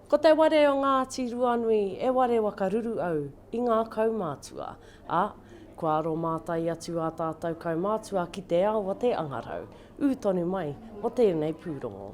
Ko te ware o Ngāti Ruanui e ware waka ruru au i ngā kaumātua, ā, kua aromātai atu ā tātou kaumātua ki te ao a te angarau, ū tonu mai o tēnei pūrongo.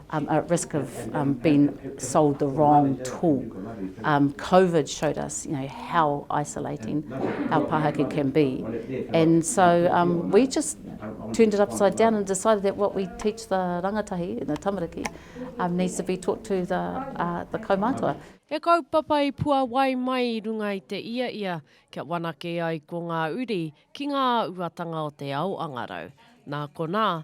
um, at risk of um, being sold the wrong tool. Um, COVID showed us, you know, how isolating our pāhaki can be. And so um, we just turned it upside down and decided that what we teach the rangatahi, the tamariki, um, needs to be taught to the, uh, the kaumātua. He kaupapa i puawai mai i runga i te ia ia kia wanake ai ko ngā uri ki ngā uatanga o te ao angarau. Nā konā,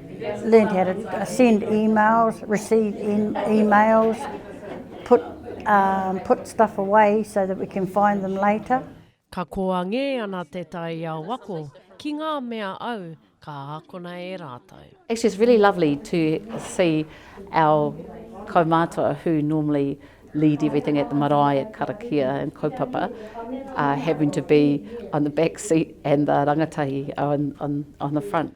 Learned how to send emails, receive emails, put um put stuff away so that we can find them later. Ka koangē ana te taiao ako ki ngā mea au ka ākona e rātou. Actually it's really lovely to see our kaumātua who normally lead everything at the marae, karakia and kaupapa having to be on the back seat and the rangatahi on the front.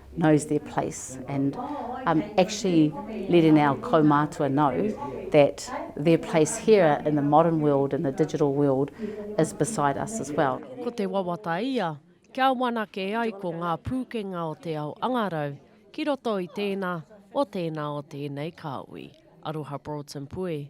knows their place and um actually letting our kaumātua know that their place here in the modern world in the digital world is beside us as well. Ko te wawata ia, kia whanake ai ko ngā pūkenga o te ao angarau ki roto i tēnā o tēnā o tēnei kāhui. Aroha Broughton Pue.